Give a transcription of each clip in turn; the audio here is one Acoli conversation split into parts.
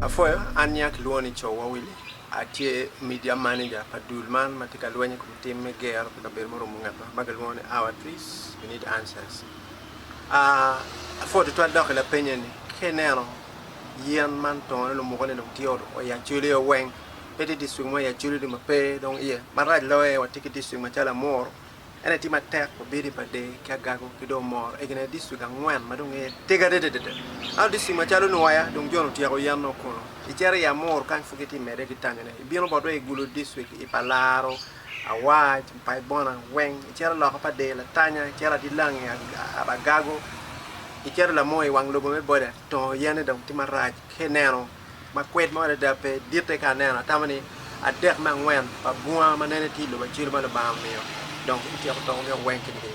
Apwoyo, an nya kilwongo ni Cowa Willy, atye Media Manager pa dul man ma tye ka lweny i kom tim me gero pi kabedo murumo ngetwa ma kilwongo ni Our Trees, We Need Answers. Apwod tutwal dok i lapenye ni, Ka ineno yen man tongone lumuke ni dong tye oya Acholi aye weng, pe tye dictrict mo i Acholi dong ma pe dong iye. Marac loyo aye watye ki dictrict macalo Amuru, ene tye matek wabino i Badee ki Agago ki dong Omoro. Egi nene dictrict angwen ma dong iye tego adadada. Ento dictrict macalo Nwoya dong jone otyeko yen nongo kunu. Icito i Amuru kany pud gitye ka mede ki tanyone. Ibino botwa i Gulu dictrict, i Palaro, Awac, Mpaibona, Weng, iciro loko pa dee, Latanya, iciro adilangi, Aragago, iciro lamoo i wang lobo me boda, Tongo yene dong tye marac ki eneno, ma kwed mo adada pe, ditte ka aneno, atamo ni adek me angwen pa bunga ma nene tye i lobo acelu ma Lubanga omiyo, dong gityeko tongogi weng kit-gi.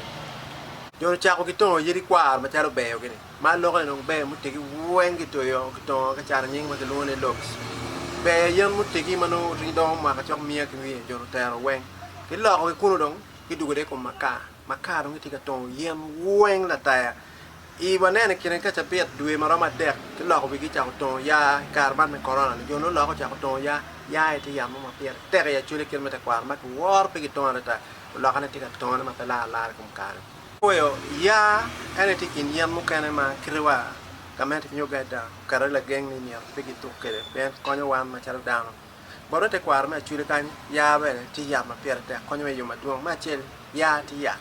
Jo-ni ocako gitongo yadi kwaro macalo beyogi-ni. Ma lokke dong ber mutegi weng kitoyo kitongo ka cato nying ma kilwongo ni locks. Ber yen mutegi ma nongo otegi dongo mwaka cok miya ki wiye jo lutero weng. Kiloko ki kunu dong kidugo de i kom makar. Makar dong kitye ka tongo yen weng lataya. I wanene kine ka cabit dwe ma romo adek kiloko wigi kicako tongo yaa i kare man me korona ni jo nongo lokke ocako tongo yaa. Yaa aye tye yat mo ma pire tek i acwele kit me tekwaro ma kiworo pe kitongo adada. Olokane tye ka tongone ma pe lar alara i kom kare. Okweo ya en aye tye i kin yen mukene ma kite wa gamente nyo gada oketo aye lageng ni myero pe gituk kwede pien konyo wan macalo dano. Bot me tekwaro me Acoli kany, ya bene tye yat ma pire tek konyo wa i yo madwong. Me acel, ya tye yat,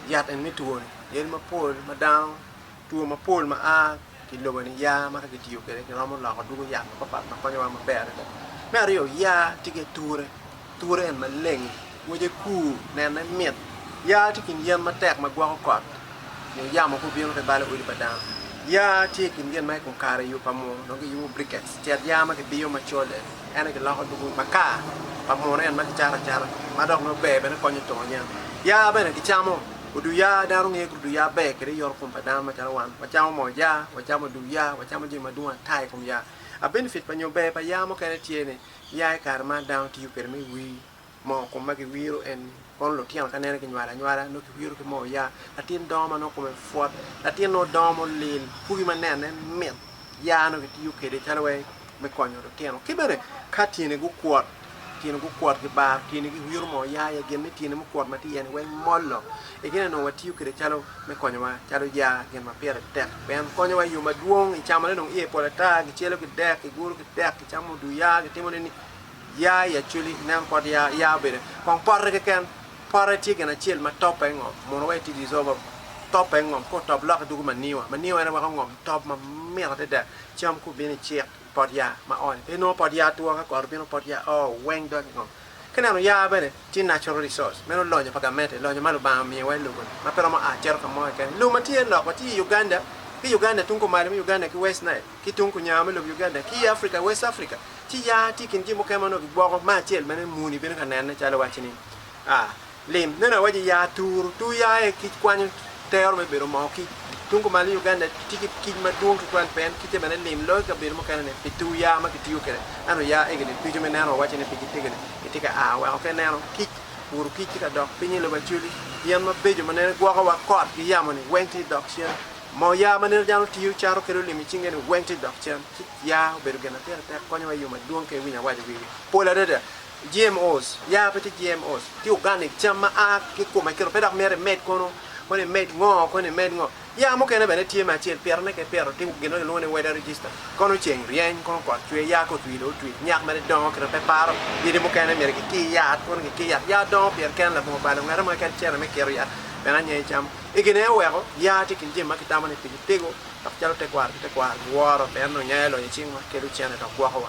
yat eni me two ni, yadi mapol ma dano. Two mapol ma a ki lobo-ni ya ma ka kitiyo kwede kiromo loko dwogo yat mapatpat ma konyowa maber adada. Me aryo, ya tye ki ature. Ature en maleng, ngwece kur, nenne mit. Ya tye i kin yen matek ma gwoko kot nyo yamo ka obino ka ibalo odi pa dano. Ya tye i kin gin ma i kom kare i yo pa muno dong kiyubo briquettes, cet ya ma kibiyo macol en, en aye kiloko dwogo makar pa muno en ma kicato acata ma dok nongo ber bene konyo tongo yen. Ya bene kicamo. Odu ya, dano ngeyo odu ya ber kede yoto kom pa dano macalo wan. Wacamo moo ya, wacamo odu ya, wacamo jami madwong ata i kom ya. A benefit pa nyo ber pa ya mukene tye ni, ya i kare man dano tiyo kede me wir moo kom ma giwiro en ni. Kono lutino ka nene ginywalo anywala nongo kiwiro ki moo ya. Latin dongo ma nongo kome pwot, latin nongo dongo mulil, pugi ma nene mit, ya nongo kitiyo kede calo wai me konyo lutino. Ki bene, ka tyeni gukwot, tyeni gukwot, gibaro tyeni, giwiro moo ya iye, gin ni tyeni mukwot ma tye iye-ni weng mollo. I gin eni onongo watiyo kwede calo me konyowa, calo ya gin ma pire tek. Pien konyowa i yo madwong, i camone dong iye pol ata, gicelo ki dek, giguro ki dek, gicamo oduu ya, gitimo nini, ya i acweli, nen kot ya, ya obed kong pote keken. Pote tye gin acel ma top aye ngom, mono wai ti deserve top aye ngom, ka otop lok idwogo manyiwa, manyiwa en aye weko ngom top mamit adada. Cam ku bino icik i pot ya ma ooni pe inongo pot ya two ka koro bino pot ya oo weng dog ingo ki neno ya bene tye natural resource meno lonyo pa gamente lonyo ma lubanga omiyo wa i lobo ni ma pe romo a cito ka mo keken i lum ma tye lok wa tye i Uganda ki Uganda tung ku malo me Uganda ki west nile ki tung ku nyango me lobo Uganda ki i Africa west Africa ci ya tye i kin jami mukene ma onongo ki gwoko ma acel mene muni bino ka nene calo waci ni a Lim. Meno awaco ya turu, tu ya aye kic kwanyo tero me bedo moo kic. Tung kumalo i Uganda tye ki kic madwong tutwal pien kicce bene lim loyo ki kabedo mukene ni pi tu ya ma kitiyo kwede. Ento ya egi ni ducu me neno wawaco ni pigi tegede gitye ka aa weko ka ineno kic, wuru kic tye ka dok piny i lobo Acholi, yen mabeco ma nene gwoko wa kot ki yamo ni weng tye dok cen. Moo ya ma nene dano tiyo cato kede olim i cinge ni weng tye dok cen. Kic ya obedo gin ma pire tek konyowa i yo madwong ka iwinyo awaco wigi pol adada. GMOs, ya pe tye GMOs, tye organic, cam ma a ki i kom akelo pe dok myero imed kono, kono imed ngo, kono imed ngo. Ya mukene bene tye me acel, pitone ka ipito tye gin ma kilwongo ni weather register, kono ceng ryeny, kono kot cwer, ya ka otwi dong otwi, nyak mere dongo kit ma pe iparo, yadi mukene myero kiki i yat, kono kiki i yat, ya dongo pire kene labongo balo, ngete mo keken cere me kiro yat bene anya icamo. I gin eno weko, ya tye i kin jami ma kitamo ni pigi tego, dok calo tekwaro ki tekwaro giworo pien onyo ya iloyo icingwa, kelo cene dok gwokowa.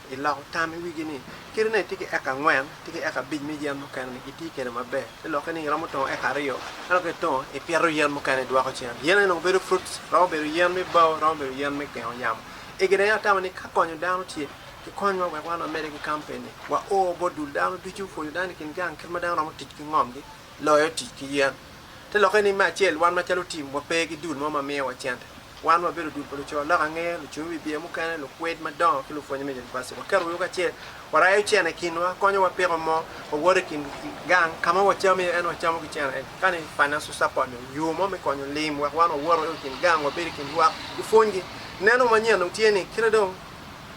I loko tam i wigi ni kite ne itye ki eka angwen tye ki eka abic me yen mukene ni iti kwede maber ci lokke ni iromo tongo eka aryo ento ka itongo ipito yen mukene idwoko cen yen eni nongo bedo fruits romo bedo yen me bao romo bedo yen me gengo yamo egi dong en atamo ni ka konyo dano tye ki konywa wek wan wamede ki kampen ni wa oo bot dul dano ducu pwonyo dano i kin gang kit ma dano romo tic ki ngom gi loyo tic ki yen. Te lokke ni, me acel, wan macalo tim wape ki dul mo ma miyowa cente. Wan wabedo dul pa luco lok ange, lucung wi biye mukene, lukwed madongo, ki lupwonye me univaciti. Waketo wiwa kacel, warayo cene i kinwa, konyo wapiko mo, wawoto i kin gang ka ma wacamo iye, ento wacamo ki cene eni. Kani financial support ni, yo mo me konyo lim wek wan wawoto i kin gang, wabedo i kin lwak, wupwonygi. Neno manyen dong tye ni, kite dong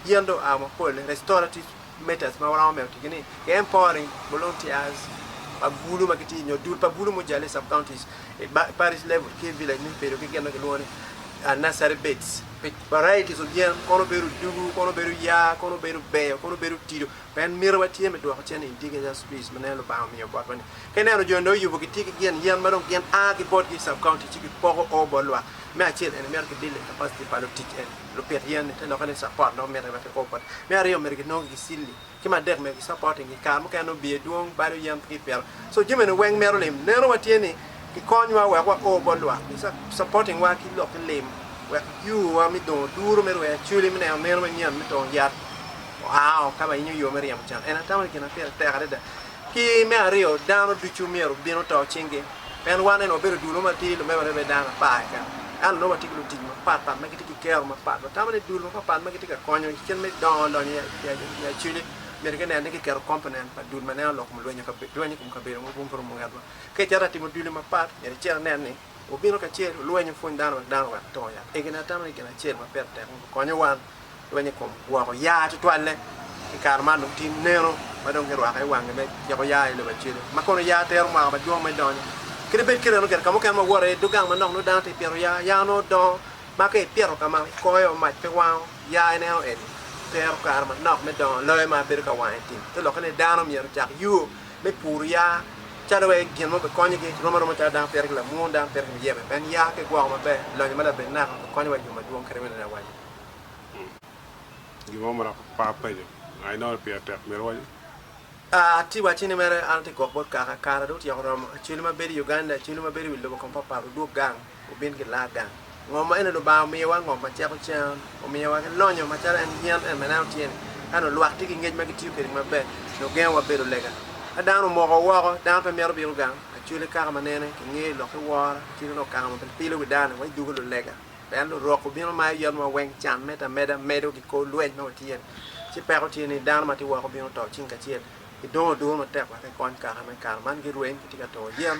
yen dong oa mapol-le, restorative. meters ma waromo medo ticgi ni Game Pouring, Volunteers pa bulu ma gitye nyo dul pa bulu mujale i sub-counties, i Parish level ki i Village ni bedo ki gin ma kilwongo ni Nursery Beds pi varieties of yen, kono obedo odugu, kono obedo yaa, kono obedo beyo, kono obedo tido, pien mito wa tye me dwoko cen i Indigenous Trees ma neno Lubanga omiyo botwa ni. Ka ineno jo ni oyubo gitye ki gin yen ma dong gin a ki botgi i sub-county ci gipoko o bot lwak, me acel eni mito kidilo i capacity pa lutic eni. lupit yen-ni te lokke ni capot nongo mitte wek kiko koti. Me aryo myero ginong ki gicilli. Ki me adek myero gicapotingi. Kare mukene nongo biye dwong, balo yen pe kipito. So jami eni weng mito lim. Neno wa tye ni kikonywa wek wa o bot lwak ki capoting wa ki lok ki lim wek yo wa me dongo duru me rweyo acoli me neno meno manyen me tongo yat oa o ka ba inyo yo me ryemo can. Eni atamo ni gin ma pire tek adada. Ki me aryo, dano ducu myero bin oto cinggi. Pien wan eni wabedo dul mo matir, lumek wano ibedo dano apar keken. Ento nongo watye ki lutic mapat pat ma gitye ki kero mapat. Watamo ni dul mapat pat ma gitye ka konyo i kit me dongo lonyo i acuc-ci, myero ginen ni gikero komponent pa dul ma neno lok kom lweny i kom kabedo mogo ma pe orumo ngatwa. Ka icito ka timo duli mapat, myero icen inen ni, Obino kacel, olweny opwony dano wek dano owek to yat. Egini atamo ni gin acel ma pire tek ni gukonyo wan lweny i kom gwoko yaa tutwalle. I kare man dong tye neno ma dong girwako aye wangi me ciko yaa i Lubacele, ma kono yaa tero mwaka madwong me donyo. Kadi bed kite meno, gire ka mukene ma wuwoto i dog gang manok nongo dano tye ka pito yaa, yaa nongo dongo ma ka ipito ka ma ikoyo mac pe wango yaa ineno eni tero kare manok me dongo loyo ma bedo ka wango i tim. Te lokke ni dano myero ocak yuo. me puru ya calo wek gin mo bikonyogi rom aroma calo dano pire ki lamwony, dano pire ki muyebe. Pien ya ki gwoko maber, lonyo ma labed naka bikonyowa i yo madwong kadi bed ni awaco. Gin mo ma dok par penyo, nga inongo ni pire tek myero iwaci? Atye wacci ni mere an atye gwok bot kaka. Kara dong otyeko romo. Acwele ma bedo i Uganda, acwele ma bedo i wi lobo kong papat odwog gang. Wubin ki laa gang. Ngom maeni Lubanga omiyowa, ngom ma ceko cen. Omiyo wa ki lonyo macalo en yen en ma ineno tye ni. Ka nongo lwak tye ki ngec ma gitiyo kwede maber, nongo gengo wa bedo lega. Ka dano omoko woko, dano pe mito bino gang. Acholi kaka ma nene, kingeyo lok ki woro, ci nongo kaka ma bilpilo wi dano-ni, wa idugo lulega. Pien lurok gubino mayo yot ma weng, can, medo ameda, medo ki kor lweny ma watye ni. Ci peko tye ni, dano ma tye woko bino to cing kacel. Gidongo duru matek wek gikony kaka me kare man girweny, gitye ka turo yen.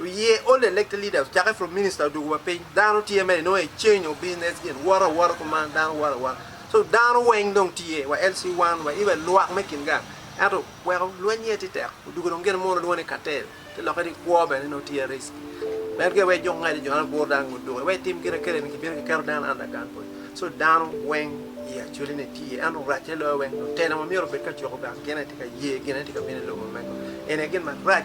Oye old elected leaders ocake from minister odugu wa piny dano tye mere nongo e change of business gin woto awota kuman dano woto awota so dano weng dong tye wa LC one wa even lwak me kin gang ento weko lweny aye tye tek odugu dong gin mono lwongo ni cartel ki loke ni kwo bene nongo tye risk meno gin wek juk ngece jone gur dano ngut duku wek etim gin akele ni kibino kiketo dano under gun point so dano weng i actually ni tye ento rac ne loyo weng lutela wa myero obed ka cuko gang gin aye tye ka ye gin aye tye ka bino i lobo mego eni aye gin marac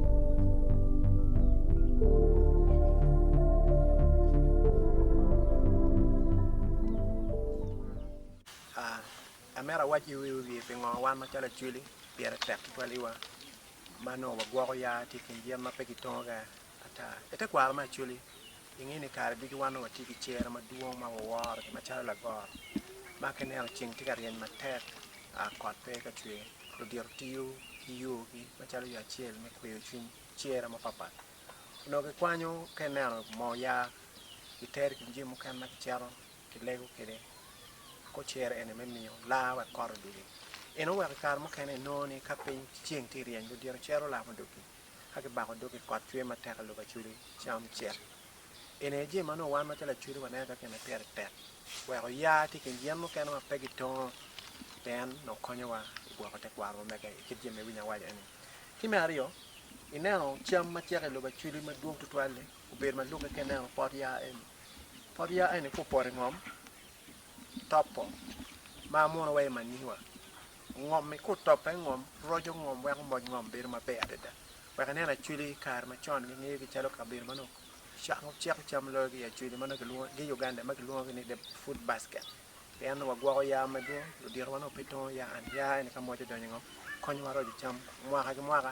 Amito awac i wiye pingo wan macalo Acweli pire tek tutwaliwa ma nongo wagwoko ya tye i kin yen ma pe gitongoga ata. Itekwaro me Acweli Inge ni kare ducu wan dong watye ki cer madwong ma waworo gi macalo lagoro ma ka ineno ceng tye ka ryeny matek kot pe ka cwer ludito tiyo ki yogi macalo yo acel me kweyo cwiny cere mapat pat onongo kikwanyo ka ineno moo ya gitero ikin jami mukene ma kicito kilego kwede ko cere eni me miyo laa wek kot odwogi eno weko ikare mukene inongo ni ka piny ceng tye ka ryeny ludito cero laa ma odwogi ka kibako dog i kot cwer matek i lobo acudu, cam cek. Eni aye jami ma nongo wan macalo acudu waneno ka kine pire tek wek oya ki i kin yen mukene ma pe gitongo pien nongo konyowa i gwoko tekwarowa mege i kit jami ma iwinyo awaca eni. Ki me aryo, ineno cam ma cek i lobo acudu madwong tutwal-li obedo ma lukke ka ineno pot yaa eni. Pot yaa eni ka opoto i ngom, topo, ma muno wa i manyiwa. Ngom i kut top pe ngom, roco ngom weko moc ngom bedo maber adada. Wek inen Acholi i kare macon gingeyo gi calo kabedo ma nongo cako ceko cam loyo ki i Acholi ma nongo kilwongo gi Uganda ma kilwongo ki ni the food basket. Pien nongo wagwoko yaa madwong, ludito wa nongo pe tongo yaa and yaa eni ka moc odonyo i ngom konyo wa roco cam mwaka ki mwaka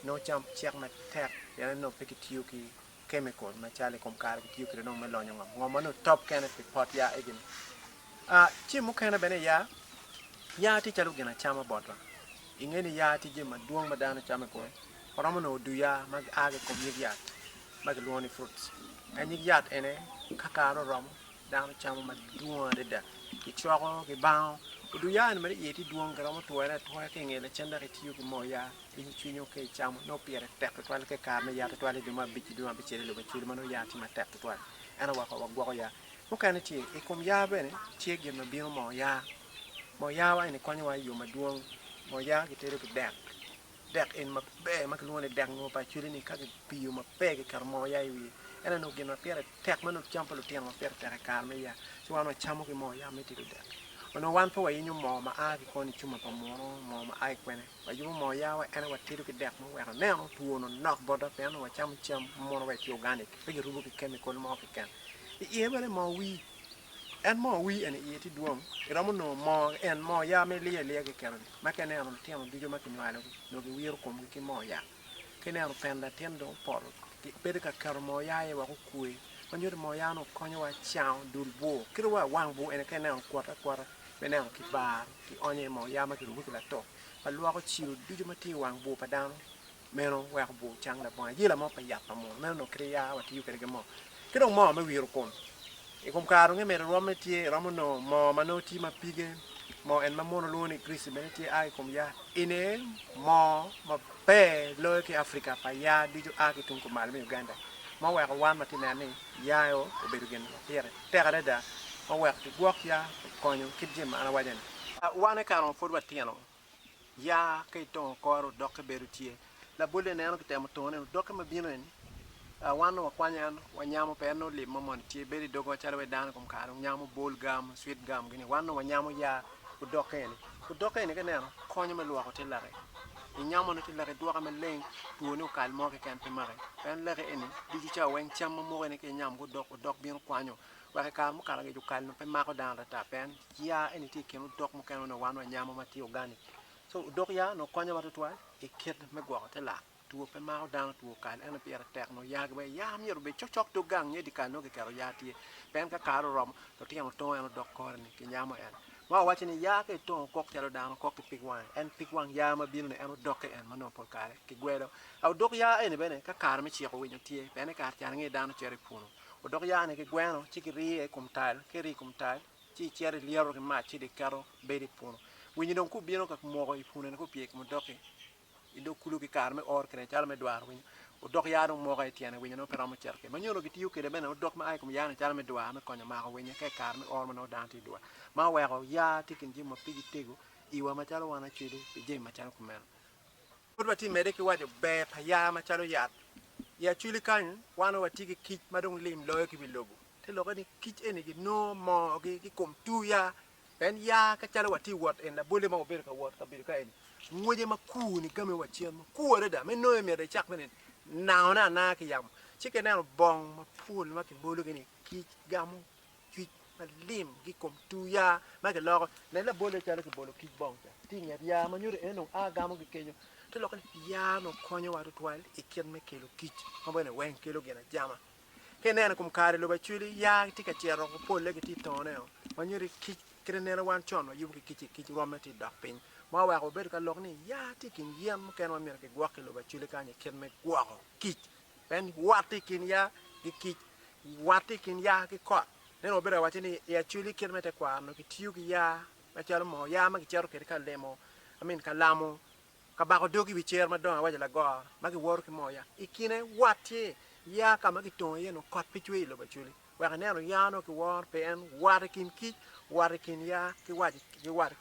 nongo cam cek matek pien nongo pe kitiyo ki kemikol ma cal i kom kare kitiyo kwede nongo me lonyo ngom. Ngom ma nongo top kene pi pot yaa egini. Ah, ci mukene bene yaa, yaa tye calo gin acama botwa. I nge ni yaa tye jami madwong ma dano camo i kome, waromo nongo duu yaa ma aa ki i kom nyig yat ma kilwongo ni fruits. Ka nyig yat ene kakare oromo, Dano camo madwong adada kicwako kibango odu yani mere iye tye dwong giromo twere atwoya ki nge lacen dok itiyo ki moo ya pinyo cwinyo ka icamo nongo pire tek tutwal ka ikare me ya tutwal idwe ma abic ki dwe ma abicel ilube cilo ma nongo ya tye matek tutwal ento weko wagwoko ya mukene tye ikom ya bene tye gin ma bino moo ya moo ya wa eni konyo wa iyo madwong moo ya kitedo ki dek. Dek en maber ma kilwongo ni dek ngur pa acweli-ni ka kipiyo maber kiketo moo oya i wiye en aye onongo gin ma pire tek ma nongo kicamo pa lutino ma pire tek i kare me yaa ci wan wacamo ki moo oya me tedo dek. Onongo wan pe wayinyo moo ma a ki koni cuma pa munu moo ma a ki kwene. Wayubo moo oyawa en aye watedo ki dek muweko aneno two onongo nok botwa pien onongo wacamo cam ma mono wa etye organic pe kirubo ki chemical mo keken. I iye bene moo wii. En mo wi en i iye tye dwong, iromo nongo mo en mo ya me liyo aliya kekeno-ni, ma ka ineno lutino ducu ma kinywalogi nongo giwiro komgi ki mo ya. Ka ineno pen latin dong opoto, bedo ka keto mo ya aye wek okwe, ma nyuto ni mo ya-nu okonyowa cango dul bwur. Kit wa wang bwur eni ka ineno okwote akwota me neno kibaro, kionyo iye mo ya ma kirubo ki latok ma lwoko cilo ducu ma tye i wang bwur pa dano meno weko bwur cang labongo ayela mo pa yat pa munu meno onongo kite ya watiyo kwede ki moo ki dong moo me wiro kom i kom kare onongo imedo rwom ne tye iromo nongo moo ma nongo tye ma pige moo en ma munu lwongo ni grease bene tye a ki kom ya eni moo ma ber loyo ki Africa pa ya ducu a ki tung kumalo me Uganda ma oweko wan watye ka neno ni ya eo obedo gin ma pire tek adada ma oweko kigwok ya okonyo kit jami ma an awaco ni. Wan i kare ma pud watino ya ka itongo kore odokke bedo tye. Labolle ineno kitemo tongone ni odokke ma bino eni wan nongo wakwanyo en wanyamo pe en nongo lim mo moni tye bedo i dogo macalo wai dano kom kare dong nyamo bol gam, sweet gam gini wan nongo wanyamo ya odokke eni. Odokke eni ka ineno konyo me lwoko te laki. Inyamone te laki idwoke maleng two ni okal mo keken pe maki. Pien laki eni ducu cawa weng cam ma mukene ka inyamo ki odok, odok bino kwanyo wek i kare mukato angec okal nongo pe mako dano ata ata pien Yaa eni tye i kin odok mukene ma nongo wan wanyamo ma tye organic. So odok yaa onongo konyowa tutwal i kit me gwoko te lak. Two pe mako dano two kal ene pire tek nongo yaa gibbe. Yaa myero obed cok cok dog gang nyo i dye kal nongo kiketo yaa tye. Pien ka kare oromo, lutino otongo en odok kore ni kinyamo en. Ma wawaco ni yaa ka itongo kok calo dano kok ki pig wange en pig wang yaa ma bino ni en odokke en ma nongo pol kare kigwelo. A odok yaa eni bene ka kare me ciko winyo tye pien i kare can ngi dano cito i punu. Odok yaa ni kigweno ci kiriyo i kom tal ka iriyo i kom tal, ci icito ilyeto ki mac ci dong iketo bedo i puno. Winyi dong kubino ka moko i punone ka opye ki mudoki i dog kulu ki kare me or kwede calo me dwaro winyo. Odok yaa dong moko aye i tyene winyo nongo pe romo cito kwede. Ma nyono kitiyo kwede bene odok ma a i kom yaa-ni calo me dwaro me konyo mako winyo ka i kare me or ma nongo dano tye i dwar ma oweko yaa tye i kin jami ma pigi tego iwa macalo wan acwele pi jami macalo kumeno. Pud watye mede ki waco ber pa yaa macalo yat. I acweli kany wan watye ki kic ma dong lim loyo ki wi lobo. Te lokke ni kic eni ginongo moogi ki i kom tur ya. Pien ya ka calo watye i wot en labolle ma wabedo ka wot i kabedo ka eni, ngwece ma kur ni game wa cen ma kur adada. Me nonge myero icak me neno nango ne ananga ki yamo. Ci ka ineno bong mapol ma kibologi ni kic gamo cwic ma lim ki i kom tur ya ma giloko. Nen labolle calo kibolo kic bong ca tye i nget ya ma nyuto en dong a gamo ki kenyo. Te lokke ni ya onongo konyowa tutwal i kit me kelo kic ma bene weng kelo gin ajama. Ka ineno i kom kare lobo acweli, yaa tye ka cito woko, polle gitye ka toneo, ma nyuto ni kic, kit ma ineno wan con wayubo ki kic-ci, kic rwamme tye ka dok piny, ma oweko wabedo ka lok ni yaa tye i kin yen mukene ma myero kigwok ki i lobo acweli kany i kit me gwoko kic. Pien wat tye i kin yaa ki kic, wat tye i kin yaa ki kot. Meno wabedo ka waco ni i acweli kit me tekwaro onongo kitiyo ki yaa macalo moo, yaa ma kicito kwede ka lemo, I mean ka lamo Ka bako dogi i wi cer madongo awaco lagor ma giworo ki moya i kine wati ya ka ma gitongo iye nongo kot pe cwer i lobo acwali wek ineno ya nongo ki woro pi en wati i kin kic wati i kin ya ki wati ki wati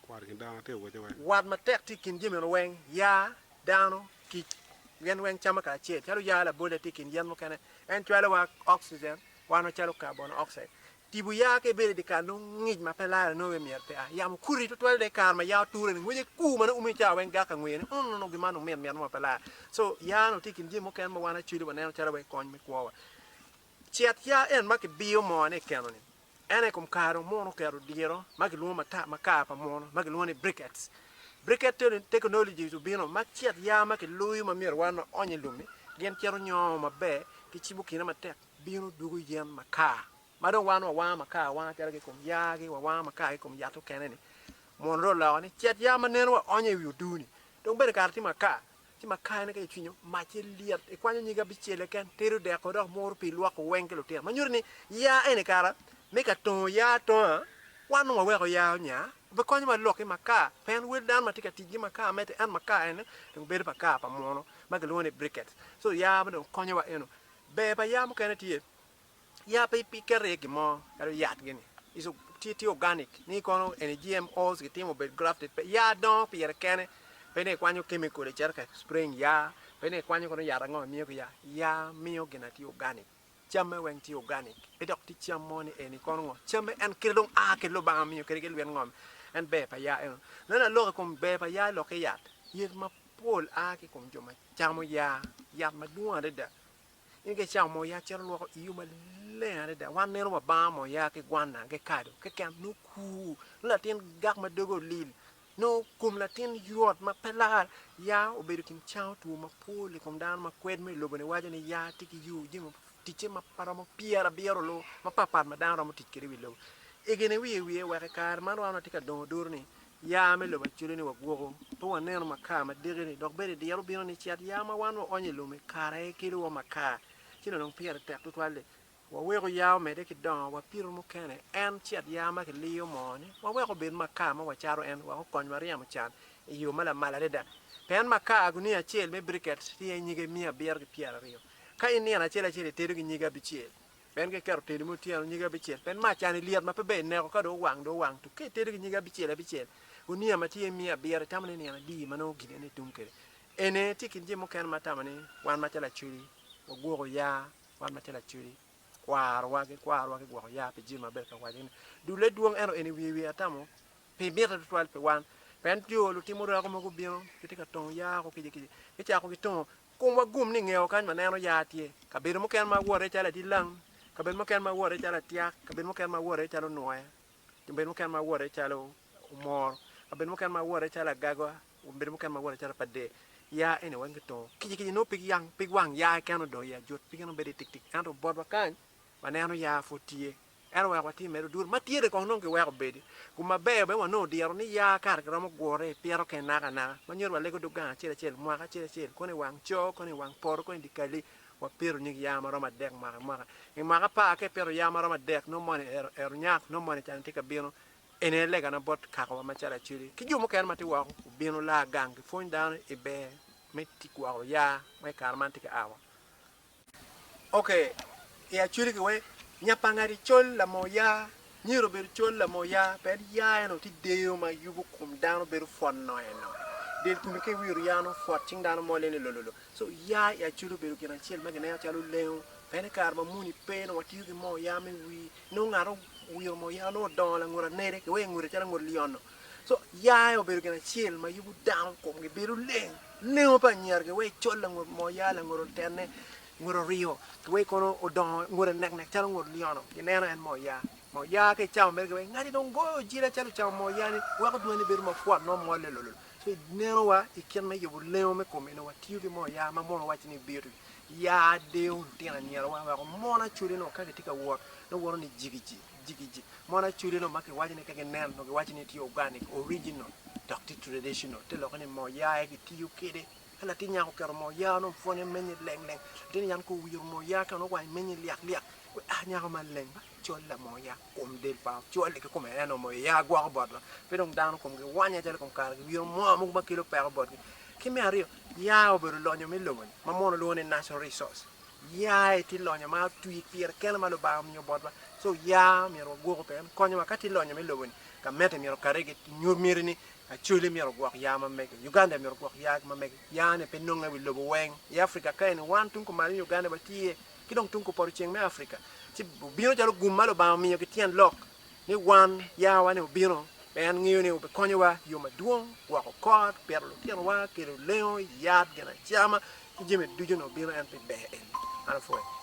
Wati i kin dano te owace wek. Wat matek tye i kin jami eno weng, ya, dano, kic. Gin weng camo kacel. Calo ya labolle tye i kin yen mukene, en cwalowa oxygen, wan wacalo carbon oxide. Tipo ya ka ibedo i dye kal nongo ngic ma pe lare nongo pe myero pea. Yamo kuti tutwal dok i kare ma ya oture-ni ngwece kur ma nongo umo i cawa weng gak ka ngweyo ni ung nongo gin man nongo mit mit mo ma pe lar. So ya nongo tye i kin jami mukene ma wan acwele waneno calo wai kony me kwowa. Cet ya en ma kibiyo mone i keno-ni. En aye i kom kare dong muno oketo diro ma kilwongo mata ma kar pa muno ma kilwongo ni briquettes. Briquette to ni technologies obino ma cet ya ma kiloyo ma myero wan waony i lum-mi gin cito nyongo maber kicibo kine matek. bino dwogo yen makar ma dong wan wawango makar awanga calo ki i kom yaa-gi, wawango makar ki i kom yat mukene-ni, mono dong oloko ni cet yaa ma neno waonyo i wi oduu-ni dong bene kara tye makar, ci makar-ni ka icwinyo, macce lyet, ikwanyo nyig abicel keken, itedo deko dok muru pii lwoko weng ki lutino, ma nyuto ni yaa eni kara me ka tongo yaa atonga, wan dong waweko yaa onya, obikonyo wa lok ki makar, pien wel dano ma tye ka tic ki makar mete, ento makar eni dong bedo makar pa muno ma kilwongo ni briquettes, so yaa ma dong konyowa eno Ber pa yaa mukene tye yaa pe iketo iye gin mo calo yat gini tye organic ni kono eni GMO kitimo obed grafted pe yaa dongo pire kene pe ni ikwanyo chemical icito ka spraying yaa pe ni ikwanyo kono yat ango imiyo ki yaa, yaa miyo gin na tye organic camme weng tye organic pe dok tye cam mo ni eni kono ngo camme en kite dong a ki Lubanga miyo kadi ki lwet ngom en ber pa yaa eno. Nongo aloko i kom ber pa yaa ilokke yat, yadi ma pol a ki i kom jo ma camo yaa, yat madwong adada. In ka icamo moo yaa cito lwoko iu maleng adada. Wan neno wa banga moo yaa ki gwanna ki kado keken nongo kuu, nongo latin gak ma doge olil, nongo kom latin ywot ma pe lar. Yaa obedo gin cango two mapol i kom dano ma kwed mo i lobo-ni waco ni yaa tye ki yo jami ticce ma pe romo pyerabiro loo mapat pat ma dano romo tic kwede i wi lobo. Egine wiye wiye wek i kare man wan watye ka dongo oduro ni Ya me lobo acude ni wagwoko, pe waneno makar ma diki-ni, dok bene diro bino ni cet ya ma wan waonyo i lum-mi kare aye kelowa makar. Ci nongo dong pire tek tutwal-li, waweko ya omedde ki dongo, wapito mukene en cet ya ma kiliyo moo-ni, wawek obed makar ma wacato en, wek okonywa ryemo can i yo ma lamal adada. Pien makar gunia acel me briket tye nyige miya abiro ki pyeraryo, ka in nino acel acel itedo ki nyige abicel. En ka iketo teli me otyeno nyige abicel, pien mac cani lyet ma pe ber i neko, ka dong owang, dong owang tuk. Ka itedo ki nyige abicel abicel, gunia ma tye miya abiro, itamo ni nino adi ma nongo gin eni itum kwede? En aye tye i kin jami mukene ma atamo ni wan macalo Lacwedi wagwoko ya, wan macalo Lacwedi kwarowa ki kwarowa gigwoko ya pi jami ma abedo ka waco ni dulle dwong ento en i wiye wiye atamo pi mite tutwal pi wan. Pien jo lutimo orako mogo gubino, gitye ka tongo ya ko kica kica, gicako gitongo Komwa gum ni ngeo kany ma neno ya tye. Kabedo mukene ma awoto iye calo adilang, kabedo mukene ma awoto iye calo atyak, kabedo mukene ma awoto iye calo onwoya, kabedo mukene ma awoto iye calo omoro, kabedo mukene ma awoto iye calo agagwa, kabedo mukene ma awoto iye calo pade. Ya eni weng kitungo. Kica kica nongo pig yang, pig wang ya keken odong iye ajut, pige nongo bedo iye tik tik. Ento botwa kany, waneno ya pud tye. Ento wek watye mere odur ma tyere kong nongo kiweko obedi gu maber bene wanongo diro ni ya kare kiromo gure i pito kene naka naka ma nyuto walego dog gang acel acel mwaka acel acel kono i wang co kono i wang poto kono i di kali wa pito nyig ya ma romo adek mwaka i mwaka i mwaka apar ka i pito ya ma romo adek nongo moni ero ero nyak nongo moni can tye ka bino eni aye lega na bot kaka wa macalo Acoli ki jo mukene ma tye woko obino laa gang ki pwony dano i ber me tic gwoko ya ma i kare man tye ka awa. Ok, i actually ki wek nya pa ngati col lamo ya, myero obedo col lamo ya, pien ya eno ti deyo ma yubo kom dano bedo fwot no eno. Del komi ki wiru ya no fwot cing dano mole ni lololo. So ya i actually obedo gin acel ma gineno calo lengo, pien i kare ma muni pe nongo watiyo ki mo ya me wii, nongo ngato owiro mo ya nongo odongo langut anede ki wek engute calo angut lyono. Co yaya obedo gin acel ma yubu dano komgi bedo leng. Lengo pa anyira ki wai col langut mo ya langut otene ngut oriyo ki wai kono odongo ngute nek nek calo ngut lyono gi neno en mo ya mo ya ka icamo mere ki wai ngati dong goyo ojila calo ocamo mo ya ni weko dwani bedo ma pwot nongo mole lolol so i neno wa i kit me yubu lengo me komi nongo watiyo ki mo ya ma mono waco ni beauty ya deyo lutino anyira wa weko mon acwali nongo ka gitye ka wot nongo woto ni jigi jigi. jigiji. Mono acudeno ma kiwaco ni ka gineno nongo giwaco ni tye organic, original, dok tye traditional, te lokke ni moo yaa aye kitiyo kwede. Ka latin nyako oketo moo yaa nongo pwonye menye leng leng. Latin nyako kong owiro moo yaa ka nongo owange menye lyak lyak. Wee aa nyako man leng ma col la moo yaa kom del pa ocwale ki kome eno moo yaa gwoko botwa. Pe dong dano komgi wanya calo i kom kare giwiro moo mogo ma kelo peko botgi. Ki me aryo, yaa obedo lonyo me loboni ma mono lwongo ni natural resource. Yaye tye lonyo ma otwi pire kene ma Lubanga omiyo botwa. So ya myero wagwoku pe en konyowa. Ka tye lonyo me lobo ni ka mete myero okati ki nyut miti ni Acholi myero ogwok ya ma mege, Uganda myero ogwok ya ma mege. Ya ni pe nonge i wi lobo weng i Africa ka eni. Wan tung kumalo ni Uganda watye ki dong tung kupoto ceng me Africa ci obino calo gum ma Lubanga omiyo ki tyen lok. ni wan yawa-ni obino, ma en ngeyo ni obikonyowa i yo madwong, gwoko kot, pito lutinowa, kelo lengo, yat, ginacama, ki jami ducu nongo bino en pi ber eni. An apwoya.